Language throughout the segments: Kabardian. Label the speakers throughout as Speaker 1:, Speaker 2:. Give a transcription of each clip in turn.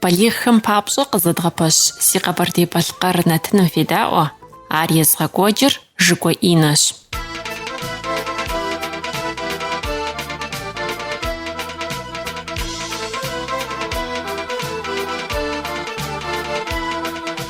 Speaker 1: Балигъхэм папщӏэ къызэдгъэпэщ си Къэбэрдей-Балъкъэр нэтыным федаӏуэ, ар езыгъэкӏуэкӏыр Жыкӏуэ Инэщ.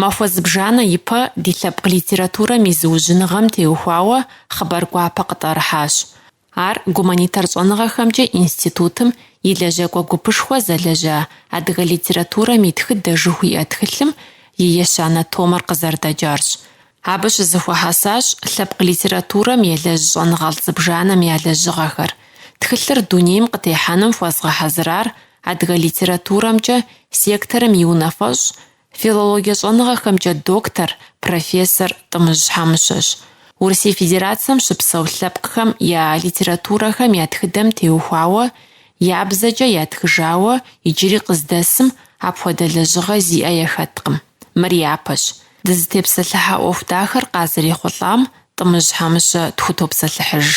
Speaker 1: Махуэ зыбжанэ ипэ ди лъэпкъ литературэм и зыужьыныгъэм теухуауэ хъыбар гуапэ къытӏэрыхьащ. Ар Гуманитар щӏэныгъэхэмкӏэ институтым и лэжьакӏуэ гупышхуэ зэлэжьа Адыгэ литературэм и тхыдэ жыхуиӏэ тхылъым и ещанэ томыр къызэрыдэкӏарщ. Абы щызэхуэхьэсащ лъэпкъ литературэм елэжь щӏэныгъэлӏ зыбжанэм я лэжьыгъэхэр. Тхылъыр дунейм къытехьэным хуэзгъэхьэзырар Адыгэ литературэмкӏэ секторым и унафэщӏ Филологие щӏэныгъэхэмкӏэ доктор, профессор Тӏымыжь Хьэмыщэщ. Урысей Федерацэм щыпсэу лъэпкъхэм я литературэхэм я тхыдэм теухуауэ, я бзэкӏэ ятхыжауэ иджыри къыздэсым апхуэдэ лэжьыгъэ зиӏэ яхэткъым. Мыр япэщ. Дызытепсэлъыхьа ӏуэху дахэр къазэрехъулӏам Тӏымыжь Хьэмыщэ тхутопсэлъыхьыж.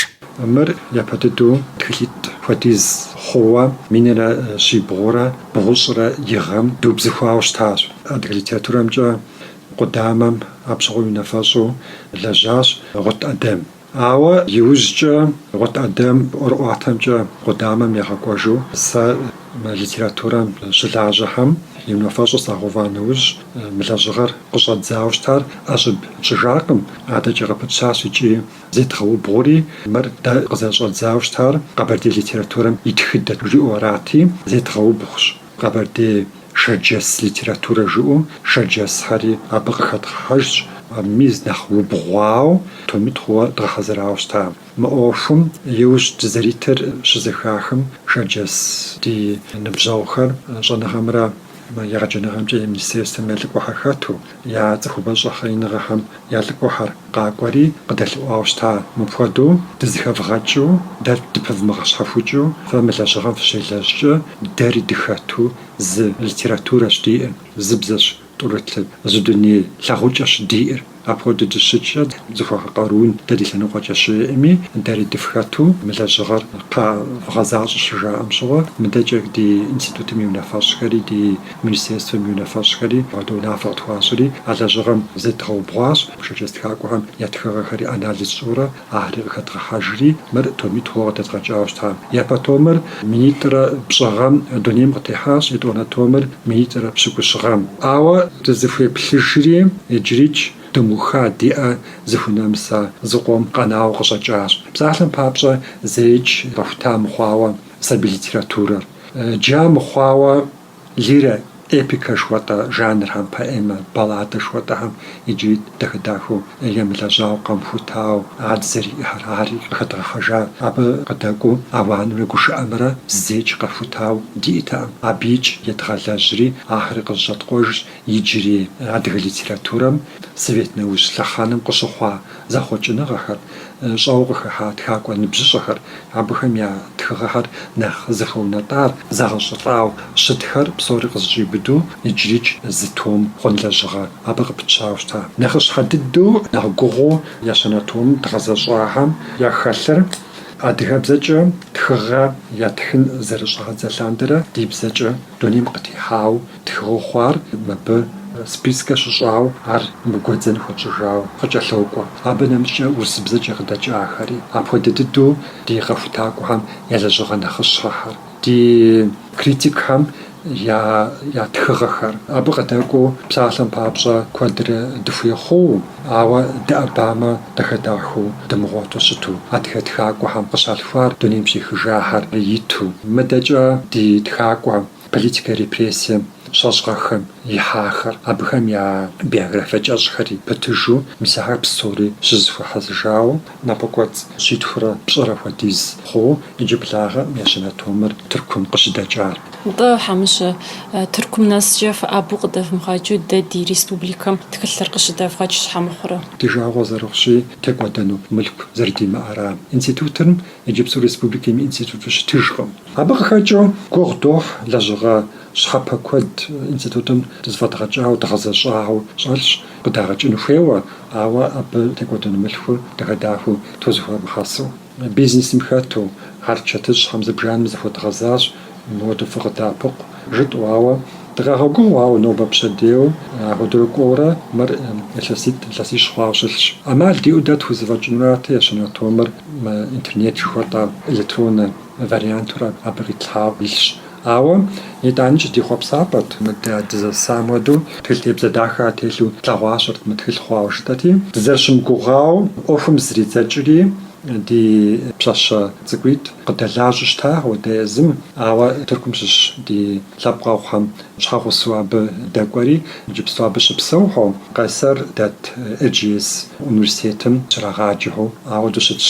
Speaker 2: Мыр япэ дыдэу тхылъитӏ хуэдиз хъууэ, минрэ щибгъурэ бгъущӏрэ и гъэм дыубзыхуауэ щытащ. Адыгэ литературэмкӏэ къудамэм абы щыгъуэ и унафэщӏу лэжьащ Гъут Адэм. Ауэ иужькӏэ Гъут Адэм ӏуэрыӏуатэмкӏэ къудамэм ягъэкӏуэжу сэ мы литературэм щылажьэхэм и унафэщӏу сагъэува нэужь, Мы лэжьыгъэр къыщӏэддзауэ щытар ӏэщӏыб тщӏыжакъым, адэкӏэ къыпытщащ икӏи зедгъэубгъури, мыр дэ къызэрыщӏэддзауэ щытар къэбэрдей литературэм и тхыдэт жиӏэу арати, зедгъэубгъущ. Къэбэрдей шэрджэс литературэ жыӏэу шэрджэсхэри абы къыхэдгъэхьэжщ, мис нэхъ убгъуауэ томитӏ хъууэ дгъэхьэзырауэ щыта. Мы ӏуэхум иужь дызэритыр щызэхахым, шэрджэс ди ныбжьэгъухэр щӏэныгъэмрэ, Мы егъэджэныгъэмкӏэ и министерствэм я лӏыкӏуэхэр хэту, я цӏыхубэ щӏэхъееныгъэхэм я лӏыкӏуэхэр къакӏуэри къыдэлъэӏуауэ щыта. Мыпхуэдэу дызыхэвгъэкӏыу, дэ дыпывмыгъэщхьэхукӏыу, фэ мы лэжьыгъэм фыщелэжькӏэ, дэри дыхэту зы литературэщ диӏэр, зы бзэщ тӏурылъыр, зы дуней лъагъукӏэщ диӏэр. Апхуэдэ дыщыткӏэ зыхуэхъу къарун дэ ди лъэныкъуэкӏэ щыӏэми, дэри дыфхэту мы лэжьыгъэр къэвгъэзащӏэ щыжаӏэм щыгъуэ, мыдэкӏэ ди институтым и унафэщӏхэри, ди министерствэм и унафэщӏхэри апхуэдэ унафэ къытхуащӏри, а лэжьыгъэм зедгъэубгъуащ, шэрджэс тхакӏуэхэм я тхыгъэхэри анализ тщӏыурэ, Ахэри къыхэдгъэхьэжри, мыр томитӏ хъууэ къыдэдгъэкӏауэ щытащ. Япэ томыр минитӏрэ пщӏы гъэм дунейм къытехьащ, етӏуанэ томыр минитӏрэ пщыкӏущ гъэм. Ауэ дызыхуеплъыжри, иджырикӏ дымыуха ди ӏэ зыхунэмыса зыкъом къэнауэ къыщӏэкӏащ. Псалъэм папщӏэ, зэикӏ къэхута мыхъуауэ сабий литературэр. Джа мыхъуауэ. Лирэ, эпикэ жыхуэтӏэ жанрхэм, поэмэ, балладэ жыхуэтӏэхэм иджыри дахэ-дахэу емылэжьауэ, къэмыхутауэ ад зэриӏэхэр ари къыхэдгъэхьэжа. Абы къыдэкӏуэу ауанымрэ гушыӏэмрэ зэикӏ къэхутауэ диӏэтэкъым. Абыикӏ едгъэлэжьри, ахэри къызэщӏэткъуэжщ иджыри адыгэ литературэм совет нэужь лъэхъэнэм къыщыхъуа зэхъуэкӏыныгъэхэр, щӏэуэ къыхыхьа тхакӏуэ ныбжьыщӏэхэр, абыхэм я тхыгъэхэр нэхъ зыхуэунэтӏар, зэгъэщӏылӏауэ щытхэр псори къызэщӏиубыдэу иджырикӏ зы том хъун лэжьыгъэ абы къыпытщауэ щыта. Нэхъыщхьэ дыдэу, нэхъ гугъуу ещанэ том дгъэзэщӏахэм яхэлъыр адыгэбзэкӏэ тхыгъэ ятхын зэрыщӏагъэдза лъандэрэ ди бзэкӏэ дунейм къытехьауэ Тхыгъэу хъуар мыбы спискэ щыщӏауэ ар мы гуэдзэн хуэтщӏыжауэ къыкӏэлъокӏуэ. Абы нэмыщӏкӏэ урысыбзэкӏэ къыдэкӏахэри, апхуэдэ дыдэу ди къэхутакӏуэхэм я лэжьыгъэ нэхъыщхьэхэр, ди критикхэм я тхыгъэхэр. Абы къыдэкӏуэу псалъэм папщӏэ куэдрэ дыхуей хъууэ, ауэ дыӏэбамэ дахэ-дахэу дымыгъуэту щыту, адыгэ тхакӏуэхэм къыщалъхуар дунейм щехыжахэр иту. Мыдэкӏэ ди тхакӏуэ политикэ репрессием щӏэщӏгъэхэм ихьахэр, абыхэм я биографие кӏэщӏхэри пытыжу, мис ахэр псори щызэхуэхьэсыжауэ, напэкӏуэцӏ щитхурэ пщӏырэ хуэдиз хъууэ иджыблагъэ мы ещанэ томыр Тыркум къыщыдэкӏар. Нтӏэ,
Speaker 3: Хьэмыщэ, Тыркум нэскӏэ фыӏэбэу къыдэвмыгъэкӏыу дэ ди республикэм тхылъыр къыщыдэвгъэкӏ щхьэ мыхъурэ? Ди жагъуэ зэрыхъущи,
Speaker 2: текӏуэдэну мылъку зэрыдимыӏэра. Институтым Иджыпсту республикэм и институту щытыжкъым. Абы къыхэкӏыу гугъу дохь лэжьыгъэ щхьэпэ куэд институтым дэ зэфӏэдгъэкӏауэ, дгъэзэщӏауэ щӏэлъщ, къыдагъэкӏыну хуейуэ, ауэ абы текӏуэдэну мылъкур дахэ-дахэу тхузэхуэмыхьэсу. Бизнесым хэту хьэрычэтыщӏэхэм зыбжанэм зыхуэдгъэзащ Модэ фыкъыддэӏэпыкъу, жытӏэу, ауэ дыкъагъэгугъауэ нобэ пщэдейуэ апхуэдэурэ кӏуэурэ мыр илъэситӏ, илъэсищ хъуауэ щылъщ. ӏэмал диӏэу дэ тхузэфӏэкӏынурати ещанэ томыр интернет жыхуэтӏэ электроннэ вариантурэ абы къитлъхьауэ илъщ. Ауэ итӏаникӏэ ди хъуэпсапӏэт, мыдэ дызэсам хуэдэу тхылъ тебзэ дахэ телъу тлъэгъуащэрэт мы тхылъ хъуауэ жытӏэти, дызэрыщымыгугъауэ ӏуэхум зридзэкӏри, Ди пщащэ цӏыкӏуитӏ къыддэлажьэу щыта ауэдэ езым, ауэ Тыркум щыщ ди лъэпкъэгъухэм щхьэгъусэу абы дэкӏуэри, иджыпсту абы щыпсэухэу, Къайсэр дэт Эрджиес университетым щрагъаджэу ауэдэу щытщ.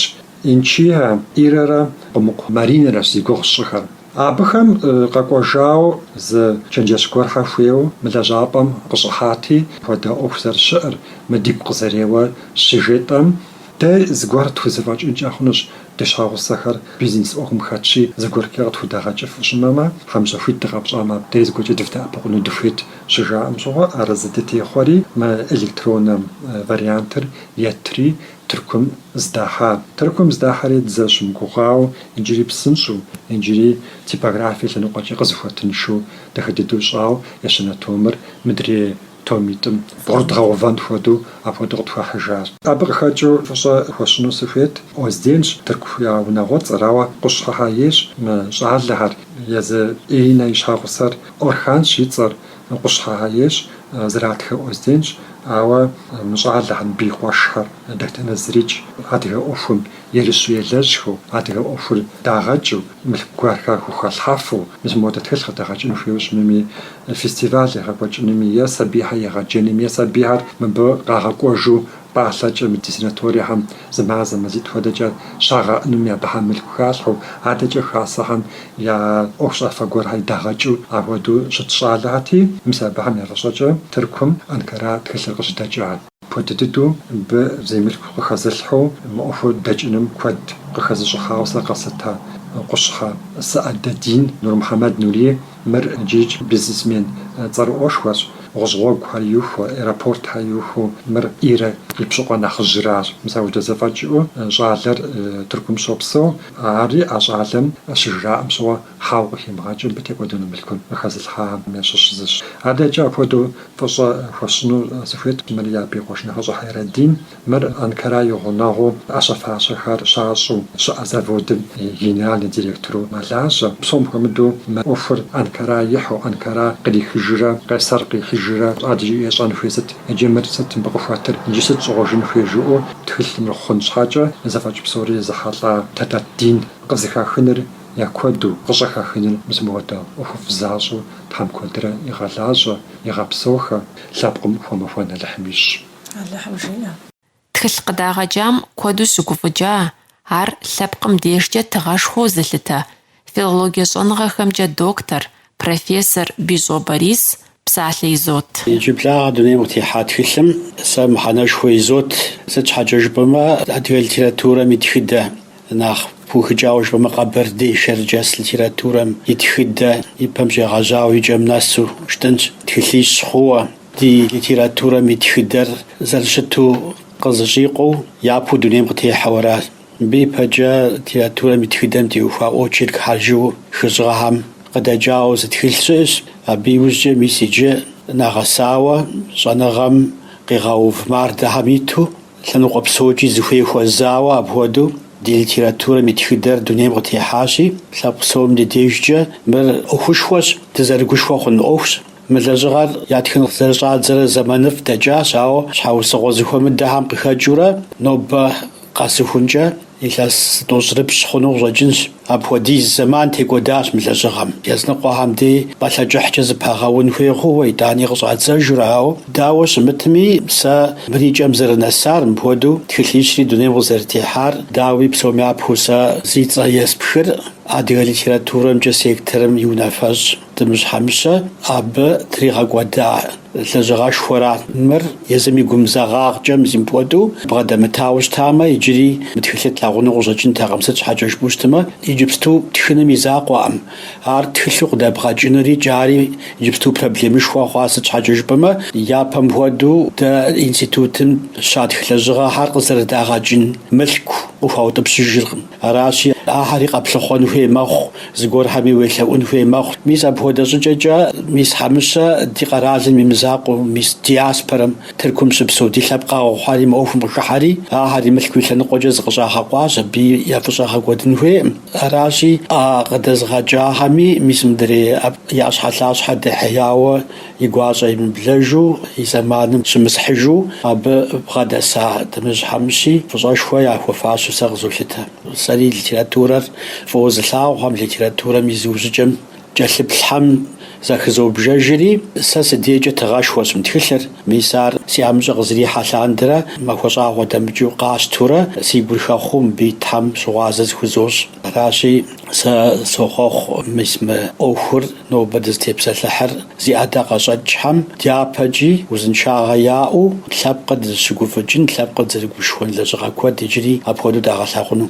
Speaker 2: Инчиа Ирэрэ Къумыкъу Маринэрэщ зи гугъу сщӏыхэр. Абыхэм къэкӏуэжауэ зы чэнджэщ гуэрхэ хуейуэ мы лэжьапӏэм къыщӏыхьати, хуэдэ ӏуэху зэрыщыӏэр, мы дигу къызэреуэр щыжетӏэм, Дэ зыгуэр тхузэфӏэкӏынкӏэ хъунущ ди щхьэгъусэхэр бизнес ӏуэхум хэтщи, зыгуэркӏэ къытхудагъэкӏыфу щымэмэ, хьэмщӏэ хуит дыкъэпщӏамэ, дэ зыгуэркӏэ дывдэӏэпыкъуну дыхуейт щыжаӏэм щыгъуэ арэзы дытехъуэри, мы электроннэ вариантыр етри Тыркум здахьа. Тыркум здахьэри дызэрыщымыгугъауэ, иджыри псынщӏэу, иджыри типографие лъэныкъуэкӏэ къызыхуэтыншэу дахэ дыдэу щӏауэ ещанэ томыр мыдрей Томитӏым бгъурыдгъэувэн хуэдэу апхуэдэу къытхуахьыжащ. Абы къыхэкӏыу фӏыщӏэ хуэсщӏыну сыхуейт, Озденщ тырку я унагъуэцӏэр, ауэ къущхьэхьэ ейщ мы щӏалэхэр, езы Иринэ и щхьэгъусэр Орханщ и цӏэр, къущхьэхьэ ейщ зэратхэ Озденщ, ауэ мы щӏалэхэр, мыбы и къуэшхэр дэтхэнэ зырикӏ, адыгэ ӏуэхум ерыщу елэжьхэу, адыгэ ӏуэхур дагъэкӏыу, мылъку гуэрхэр хухалъхьэфу, мис модэ тхылъ къыдэгъэкӏын хуейуэ щымыми, фестиваль егъэкӏуэкӏынуми е сабийхэр егъэджэнми е сабийхэр мыбы къагъэкӏуэжу пӏалъэкӏэ мы ди санаториехэм зы мазэ мазитӏ хуэдэкӏэ щагъэӏэнуми абыхэм мылъку халъхьэу, адэкӏэ хасэхэм я ӏуэхущӏафэ гуэрхэр дагъэкӏыу апхуэдэу щыт щӏалэхэти, мис абыхэм я фӏыщӏэкӏэ Тыркум, Анкара тхылъыр къыщыдэкӏа. Апхуэдэ дыдэу мыбы зей мылъку къыхэзылъхьэу мы ӏуэхур дэкӏыным куэд къыхэзыщӏыхьауэ сэ къэслъыта Къущхьэ Саадэдин Нурмухьэмэд Нури. Мыр иджыикӏ бизнесмен цӏэрыӏуэшхуэщ, гъущӏ гъуэгухэр иухуэу, аэропортхэр иухуэу, мыр Ирэ и пщыкъуэ нэхъыжьращ. Мис апхуэдэ зэфӏэкӏ иӏэу щӏалэр Тыркум щопсэу, ари а щӏалэм щыжраӏэм щыгъуэ хьэуэ къыхимыгъэкӏыу мыбы текӏуэдэну мылъкур къыхэзылъхьам ящыщ зыщ. Адэкӏэ апхуэдэу Фӏыщӏэ хуэсщӏыну сыхуейт мыри абы и къуэш нэхъыщӏэ Хьэйрэдин. Мыр Анкара и гъунэгъуу ӏэщэ-фащэхэр щащӏу щыӏэ заводым и генеральный директору мэлажьэ. Псом хуэмыдэу мы ӏуэхур Анкара ихьу, Анкара кърихыжрэ Къайсэр къихьыжрэ адэкӏи ещӏэн хуей сыт иджы, мыр сыт мыбы къыхуэтыр иджы, сыт щӏыгъужын хуей жыӏэу тхылъыр хъун щхьэкӏэ, зэфӏэкӏ псори езыхьэлӏа Тадатдин къызыхахыныр я куэду къыщӏыхахыныр мис мыпхуэдэ ӏуэхуфӏ защӏэу Тхьэм куэдрэ игъэлажьэ, игъэпсэухэ, лъэпкъым хуэмэхуэн Алыхьым ищӏ. Алыхьым жиӏэ.
Speaker 1: Тхылъ къыдагъэкӏам куэду щыгуфӏыкӏа ар лъэпкъым дежкӏэ тыгъэшхуэу зылъытэ, филологие щӏэныгъэхэмкӏэ доктор, профессор Бищӏо Борис псалъэ изот. Иджыблагъэ
Speaker 4: дунейм къытехьа тхылъым сэ мыхьэнэшхуэ изот. Сыт щхьэкӏэ жыпӏэмэ, адыгэ литературэм и тхыдэ, нэхъ пыухыкӏауэ жыпӏэмэ, къэбэрдей-шэрджэс литературэм и тхыдэ и пэм щегъэжьауэ и кӏэм нэсу щытынщ. Тхылъищ хъууэ ди литературэм и тхыдэр зэрыщыту къызэщӏикъуэу, япэу дунейм къытехьэу аращ. Мыбы ипэкӏэ литературэм и тхыдэм теухуа очеркхэр жиӏэу хыщӏ гъэхэм къыдэкӏауэ зы тхылъ щыӏэщ. Абы иужькӏэ мис иджы нэгъэсауэ щӏэныгъэм къигъэув мардэхэм иту, лъэныкъуэ псокӏи зыхуей хуэзауэ апхуэдэу ди литературэм и тхыдэр дунейм къытехьащи, лъэпкъ псом ди дежкӏэ мыр ӏуэхушхуэщ, дызэрыгушхуэ хъун ӏуэхущ. Мы лэжьыгъэр ятхын зэрыщӏадзэрэ зэманыфӏ дэкӏащ, ауэ щхьэусыгъуэ зэхуэмыдэхэм къыхэкӏыурэ нобэ Къэсыхункӏэ илъэс тӏощӏрыпщӏ хъуну къыщӏэкӏынщ. Апхуэдиз зэман текӏуэдащ мы лэжьыгъэм. Языныкъуэхэм дей пӏалъэ кӏыхькӏэ зыпагъэун хуей хъууэ итӏани къыщӏадзэжурэ, ауэ дауэ щымытми, сэ мыр и кӏэм зэрынэсар, мыпхуэдэу тхылъищри дунейм къызэрытехьар, дауи, псоми япэу сэ зи цӏэ еспхыр адыгэ литературэмкӏэ секторым и унафэщӏ. Тӏымыжь Хьэмыщэ абы тригъэкӏуэда лэжьыгъэшхуэра. Мыр езым и гумызагъагъкӏэ мис мыпхуэдэу бгъэдэмытауэ щытамэ, иджыри мы тхылъыр тлъагъуну къыщӏэкӏынтэкъым, сыт щхьэкӏэ жыпӏэу щытымэ, иджыпсту тхыным и закъуэкъым. Ар тхылъу къыдэбгъэкӏынур икӏи ари иджыпсту проблемышхуэ хъуа, сыт щхьэкӏэ жыпӏэмэ, япэм хуэдэу дэ институтым щатх лэжьыгъэхэр къызэрыдагъэкӏын мылъку къыхуаутӏыпщыжыркъым. Аращи, ахэри къэплъыхъуэн хуей мэхъу, зыгуэрхэми уелъэӏун хуей мэхъу. Мис апхуэдэ щӏыкӏэкӏэ, мис Хьэмыщэ ди къэралым и мызакъуэу, мис диаспорэм, Тыркум щыпсэу ди лъэпкъэгъухэри мы ӏуэхум къыхыхьэри, ахэри мылъку и лъэныкъуэкӏэ зыкъыщӏагъэкъуащ, абы я фӏыщӏэ гъэкӏуэдын хуейкъым. Аращи, къыдэзыгъэкӏахэми, мис мыдрей и ӏэщхьэлъащхьэ дэхьеяуэ, и гуащӏэ емыблэжу, и зэманым щымысхьыжу абы бгъэдэса Тӏымыжь Хьэмыщи фӏыщӏэшхуэ яхуэфащэу сэ къызолъытэ. Сэри литературэр фӏыуэ зылъагъухэм, литературэм и зыужьыкӏэм кӏэлъыплъхэм захызобжэжри, сэ си дейкӏэ тыгъэшхуэщ мы тхылъыр, мис ар си ӏэмыщӏэ къызэрихьэ лъандэрэ махуэ щӏагъуэ дэмыкӏыу къащтурэ, си гур хэхъуэу мыбы итхэм щыгъуазэ зыхузощӏ. Аращи, Сэ сохъуэхъу мис мы ӏуэхур нобэ дызытепсэлъыхьыр зи ӏэдакъэщӏэкӏхэм, дяпэкӏи узыншагъэ яӏэу лъэпкъыр дызыщыгуфӏыкӏын, лъэпкъыр дызэрыгушхуэн лэжьыгъэ куэд иджыри апхуэдэу дагъэлъагъуну.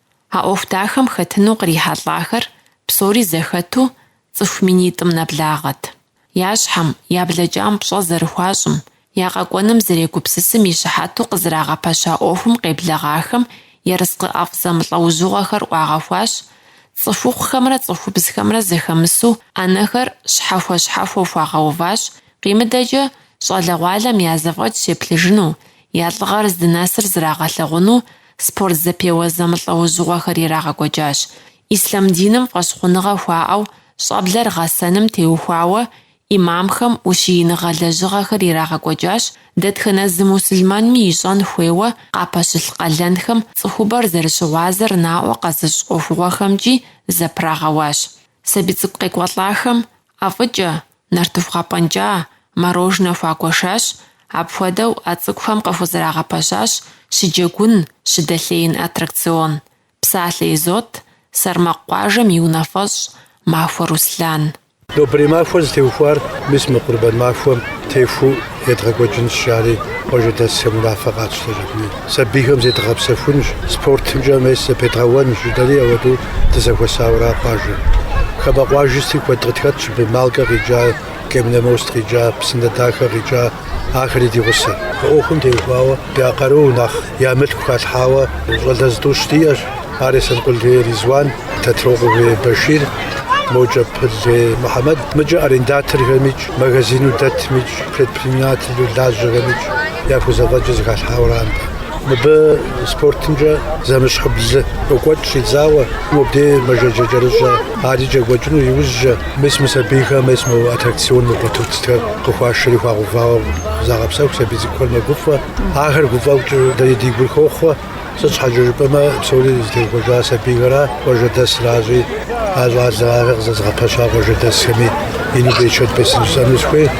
Speaker 1: А ӏуэху дахэм хэтыну кърихьэлӏахэр псори зэхэту цӏыху минитӏым нэблагъэт. Я щхьэм, я блэкӏам пщӏэ зэрыхуащӏым, я къэкӏуэным зэрегупсысым и щыхьэту къызрагъэпэща ӏуэхум къеблэгъахэм ерыскъы ӏэфӏ зэмылӏэужьыгъуэхэр ӏуагъэхуащ, цӏыхухъухэмрэ цӏыхубзхэмрэ зэхэмысу ӏэнэхэр щхьэхуэ-щхьэхуэу хуагъэуващ, къимыдэкӏэ щӏалэгъуалэм я зэфӏэкӏ щеплъыжыну, я лӏыгъэр здынэсыр зрагъэлъэгъуну Спорт зэпеуэ зэмылӏэужьыгъуэхэр ирагъэкӏуэкӏащ. Ислъам диным фӏэщхъуныгъэ хуаӏэу щӏэблэр гъэсэным теухуауэ ӏимамхэм ущииныгъэ лэжьыгъэхэр ирагъэкӏуэкӏащ, дэтхэнэ зы мусульманми ищӏэн хуейуэ къапэщылъ къалэнхэм цӏыхубэр зэрыщыгъуазэр наӏуэ къэзыщӏ ӏуэхугъуэхэмкӏи зэпрагъэуащ. Сабий цӏыкӏу къекӏуэлӏахэм ӏэфӏыкӏэ, нартыху гъэпӏэнкӏа, мороженэ хуагуэшащ, апхуэдэу а цӏыкӏухэм къыхузэрагъэпэщащ щыджэгун, щыдэлъеин аттракцион. Псалъэ изот Сэрмакъ къуажэм и унафэщӏ Махуэ Руслан. Нобэрей
Speaker 5: махуэр зытеухуар мис мы къурбэн махуэм техуэу едгъэкӏуэкӏынщ, жари къуажэдэсхэм унафэ къатщтэркъыми. сабийхэм зедгъэпсэхунщ, спортымкӏэ мес зэпедгъэуэнщ жытӏэри, ауэдэу дызэхуэсауэра къуажэр. Хамэ къуажысти куэд къытхэтщ абы, Малкэ къикӏа, Каменномост къикӏа, Псынэдахэ къикӏа, ахэри ди гъусэщ. Ӏуэхум теухуауэ я къару, нэхъ я мылъку халъхьауэ щӏалэ зытӏущ диӏэщ. Ар Есэнкъул Ризван, Тэтрокъуэ Башир, мокӏэ Пыл Мухьэмэд, мыкӏэ арендаторхэмикӏ, магазину дэтмикӏ, предпринимателу лажьэхэмикӏ яхузэфӏэкӏыр зыхалъхьауэ ара нтӏэ. Мыбы спортымкӏэ зэмыщхьибл къокӏуэкӏ щӏидзауэ, мобдей мэжаджэ кӏэрыщӏэ арикӏ екӏуэкӏыну иужькӏэ, мис мы сабийхэм мес мо аттракцион, мы батутхэр къыхуашэри хуагъэувауэ загъэпсэху, сабий цӏыкӏухэр мэгуфӏэ, ахэр гуфӏэхукӏэ дэри ди гур хохъуэ. Сыт щхьэкӏэ жыпӏэмэ, псори зытеухуэжар сабийхэра, къуажэдэсыращи, а щӏалэхэри къызэзыгъэпэща къуажэдэсхэми ину берычэт бесын жысӏэну сыхуейт.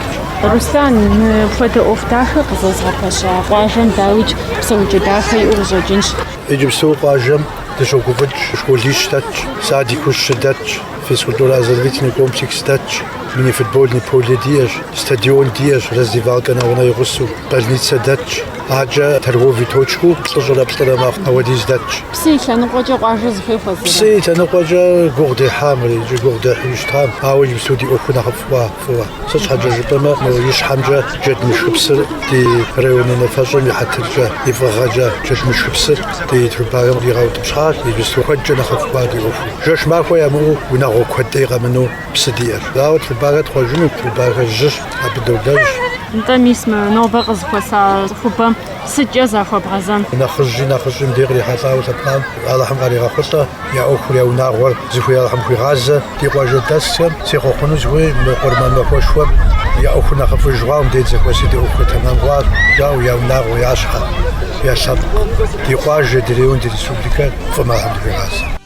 Speaker 5: Руслан, мыпхуэдэ ӏуэху
Speaker 3: дахэ къызэзыгъэпэща къуажэм дауикӏ псэукӏэ дахэ иӏэу
Speaker 5: къыщӏэкӏынщ. Иджыпсту къуажэм дыщогуфӏыкӏ школищ дэтщ, садику щы дэтщ, физкультурэ-оздоровительный комплекс дэтщ, мини-футбольный поле диӏэщ, стадион диӏэщ, раздевалкэ нэгъунэ и гъусэу, больницэ дэтщ. Акӏэ торговый точку плӏыщӏрэ плӏырэ мэхъу, ауэдиз
Speaker 3: дэтщ. Псы и лъэныкъуэкӏэ къуажэ
Speaker 5: зыхуей хуэзэрэ? Псы и лъэныкъуэкӏэ гугъу дехьам, иджы гугъу дехьу щытам, ауэ иджыпсту ди ӏуэхур нэхъыфӏ хъуа фӏыуэ. Сыт щхьэкӏэ жыпӏэмэ, мо ищхьэмкӏэ Джэдмышхыпсыр ди район унафэщӏым и хьэтыркӏэ, и фӏыгъэкӏэ Джэдмышхыпсыр ди трубахэм къигъэутӏыпщхьащ, иджыпсту куэдкӏэ нэхъыфӏ хъуа ди ӏуэхур. Жэщ махуэ ямыӏэу унагъуэ куэд ӏей къэмынэу. Псы диӏэр. Ауэ трубахэр тхъуэжыну, трубахэр жьыщ, абы долэжь. Нтӏэ, мис
Speaker 3: мы нобэ къызыхуэса цӏыхубэм сыткӏэ захуэбгъэзэн. Нэхъыжьи нэхъыщӏи
Speaker 5: мыбдеж кърихьэлӏауэ лъэпкъам Алыхьым къаригъэхъулӏэ, я ӏуэхур, я унагъуэр зыхуей Алыхьым хуигъазэ. Ди къуажэдэсхэм сехъуэхъуну сыхуей мы къурмэн махуэшхуэм я ӏуэхур нэхъыфӏыж хъуауэ мыбдеж зэхуэси ди ӏуэхур тэмам хъуащ, жаӏэу я унагъуэ, я щхьэ, я лъэпкъ, ди къуажэ, ди район, ди республикэ фӏым Алыхьым дыхуигъазэ.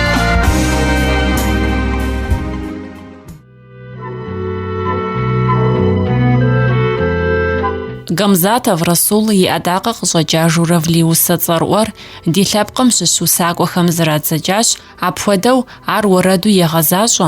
Speaker 1: Гамзатов Расул и ӏэдакъэ къыщӏэкӏа Журавли усэ цӏэрыӏуэр ди лъэпкъым щыщ усакӏуэхэм зрадзэкӏащ, апхуэдэу ар уэрэду егъэзащӏэ,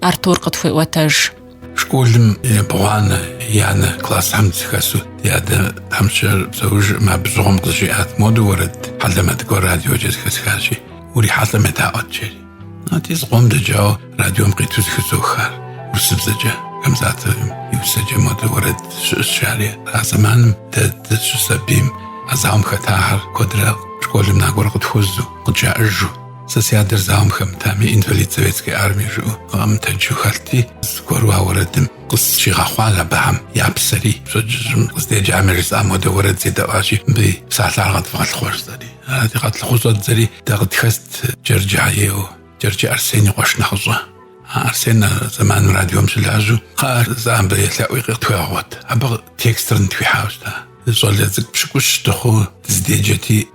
Speaker 1: Артур къытхуеӏуэтэж.
Speaker 6: Школым ебгъуанэ еянэ классхэм сыхэсу ди адэ тхьэмыщкӏэр псэужым абы щыгъуэм къызжиӏат, Модэ уэрэд хьэлэмэт гуэр радиокӏэ зыхэсхащи, урихьэлӏэм едаӏуэт, жери. Ати зыкъом дэкӏауэ радиом къиту зыхызох ар урысыбзэкӏэ, Гамзатовым и усэкӏэ модэ уэрэд щыӏэщ, жари. А зэманым дэ дыщысабийм а зауэм хэта ахэр куэдрэ школым накӏуэрэ къытхуэзу, къыджаӏэжу. Сэ си адэр зауэм хэмытами, инвалид Советской армии жыӏэу къэмытэджу хэлъти, зыгуэру а уэрэдым къысщигъэхъуа абыхэм я псэри, пщэдджыжьым къыздеджэм яжесӏа, модэ уэрэд седэӏуащи, абы и псалъэр къэдывгъэлъыхъуэ жысӏэри. Арати, къэтлъыхъуэу щӏэддзэри дэ къытхэст Джэрджэхэ ейуэ, Джэрджэ Арсен и къуэш нэхъыщӏэ. А Арсен а зэманым радиом щылажьэу, Кхъыӏэ, жысӏа, абы елъэӏуи къытхуегъэгъуэт. Абы текстыр нытхуихьауэ щыта. Щӏалэ цӏыкӏу пщыкӏущ дыхъуу дыздеджэти,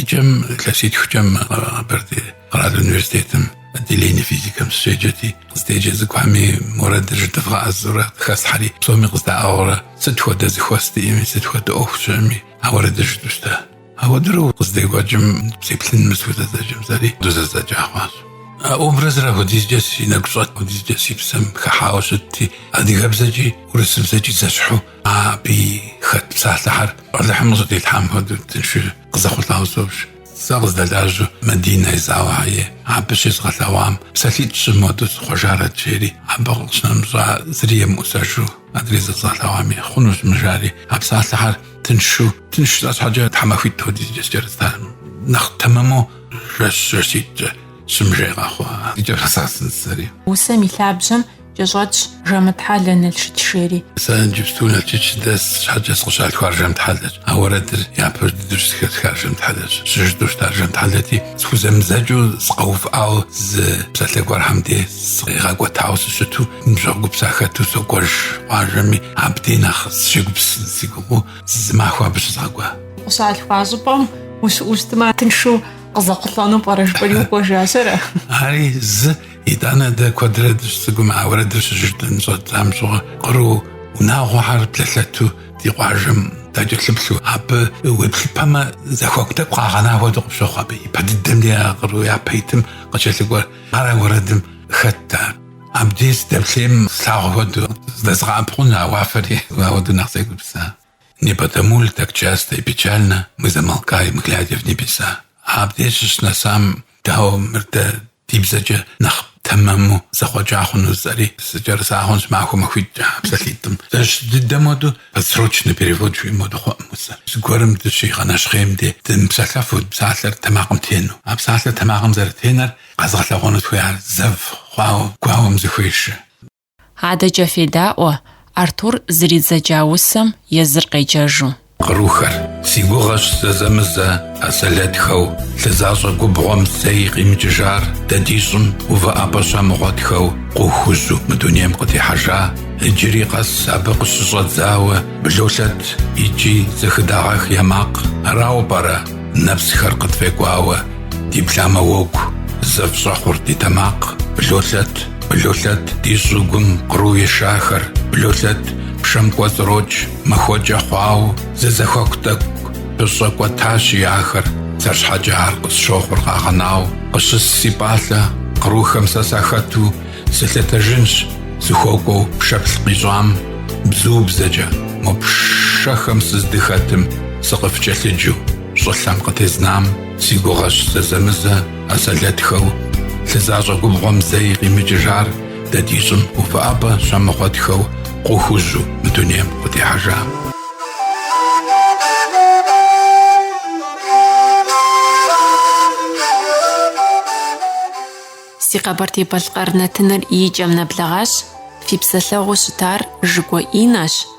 Speaker 6: Икӏэм илъэситхукӏэ мы Къэбэрдей къэрал университетым отделение физикэм сыщеджэти, къыздеджэ цӏыкӏухэми уэрэдыр жыдывгъэӏэзурэ къыхэслъхьэри, псоми къыздаӏыгъыурэ сыт хуэдэ зэхуэс диӏэми, сыт хуэдэ ӏуэху щыӏэми, а уэрэдыр жытӏэу щыта. Ауэдэурэ къыздекӏуэкӏым, сеплъын мыр схузэдзэкӏым жысӏэри ауэдэу зэдзэкӏа хъуащ. А образыр апхуэдизкӏэ си нэгу щӏэт, апхуэдизкӏэ си псэм хыхьауэ щытти, адыгэбзэкӏи урысыбзэкӏи зэщхьу Абы хэт псалъэхэр Алыхьым къызжьэдилъхьам хуэдэу тыншу къызэхъулӏауэ собж. Сэ къыздэлажьэу Мадинэ Езаухэ ей, абы щезгъэлъэгъуам псалъитӏ-щы модэу сыхъуэжарэт, жери, абы къыщынэмыщӏа зыри емыӏусэжу, адрей зэзгъэлъэгъуами хъунущ мыр, жари, а псалъэхэр тыншу, тынш жысӏэ щхьэкӏэ тхьэмахуитӏ хуэдизкӏэ сыкӏэрыта, нэхъ тэмэму жэщ-жэщитӏкӏэ сыщымыжей къэхъуа, и кӏэм нэзгъэсын жысӏэри. Усэм и лъабжьэм
Speaker 3: Кӏэщӏэтщ Жэмтхьэлэ Налшык жери. Сэ
Speaker 6: иджыпсту Налшык сыдэс щхьэкӏэ сыкъыщалъхуар Жэмтхьэлэщ. А уэрэдыр япэ дыдэу зыхэсхар Жэмтхьэлэщ. Щыжытӏэу щытар Жэмтхьэлэти, схузэмызэкӏыу сыкъэувыӏауэ зы псалъэ гуэрхэм де сыкъигъэкӏуэтауэ сыщыту, ныбжьэгъу гуп сахэту сокӏуэж къуажэми, абдей нэхъ сыщегупсысын си гугъэу, зы махуэ абы щызгъэкӏуа. Къыщалъхуа
Speaker 3: щӏыпӏэм усэ щызусмэ, тыншу къызэхъулӏэну пӏэрэ жыпӏэри укӏуэжащ, ара? Ари
Speaker 6: зы Итӏанэ дэ куэдрэ дыщыцӏыкӏум а уэрэдыр щыжытӏэн щӏэддзам щыгъуэ къру унагъуэхэр блэлъэту ди къуажэм дакӏэлъыплъу абы уеплъыпэмэ зэхуаку тӏэкӏу къагъэна хуэдэу къыпщохъу абы ипэ дыдэм де а къру япэ итым къыкӏэлъыкӏуэр ар а уэрэдым хэтт ар абдей сыдэплъейм слъагъу хуэдэу зыдэзгъэӏэпыкъуну а уафэри ауэдэу нэхъ сегупсыса. Не потому ли так часто и печально Мы замолкаем, глядя в небеса? Абдеж сыщынэсам, дауэ мыр дэ ди бзэкӏэ нэхъ тэмэму зэхъуэкӏа хъуну жысӏэри сыкӏэрыса хъунщ зы махуэ махуитӏкӏэ а псалъитӏым. Зэщхь дыдэ моду подстрочный перевод жиӏэ моду хъуӏым усэр. Зыгуэрым дыщигъэнэщхъейм де дымыпсэлъэфу псалъэр тэмакъым тену. А псалъэр тэмакъым зэрытенэр къэзгъэлъэгъуэнут хуеяр зэв хъуауэ гуауэм зэхуешэ.
Speaker 1: Адэкӏэ федаӏуэ, Артур зэридзэкӏа усэм езыр къеджэжу.
Speaker 6: Кърухэр, си гугъэщ зэзэмызэ а сэлэтхэу лъы защӏэ губгъуэм зэи къимыкӏыжар дэ ди щӏым увыӏэпӏэ щамыгъуэтхэу къру хужьу мы дунейм къытехьэжа, иджыри къэс абы къыщыщӏэдзауэ блолъэт икӏи зэхыдагъэх я макъ, арауэ пӏэрэ нэпсхэр къытфӏекӏуауэ диплъамэ уэгу зэв щӏэхъур ди тэмакъ, блолъэт? Блолъэт ди щӏыгум къру ешахэр, блолъэт, пшэм кӏуэцӏрокӏ махуэкӏэ хъуауэ, зы зэхуаку тӏэкӏу пыщӏэкӏуэтащи ахэр, сэр щхьэкӏэ ар къысщохъур къагъэнауэ къыщыс си пӏалъэ кърухэм сэ сахэту сылъэтэжынщ сыхуэкӏуэу пшэплъ къищӏам бзубзэкӏэ мо пшэхэм сыздыхэтым сыкъыфкӏэлъыджэу щӏылъэм къытезнам си гугъэщ зэзэмызэ А сэлэтхэу лъы защӏэ губгъуэм зэи къимыкӏыжар дэ ди щӏым увыӏэпӏэ щамыгъуэтхэу къру хужьу мы дунейм къытехьэжа.
Speaker 1: Си Къэбэрдей-Балъкъэр нэтыныр и кӏэм нэблэгъащ, фи псэлъэгъуу щытар Жыкӏуэ Иннэщ.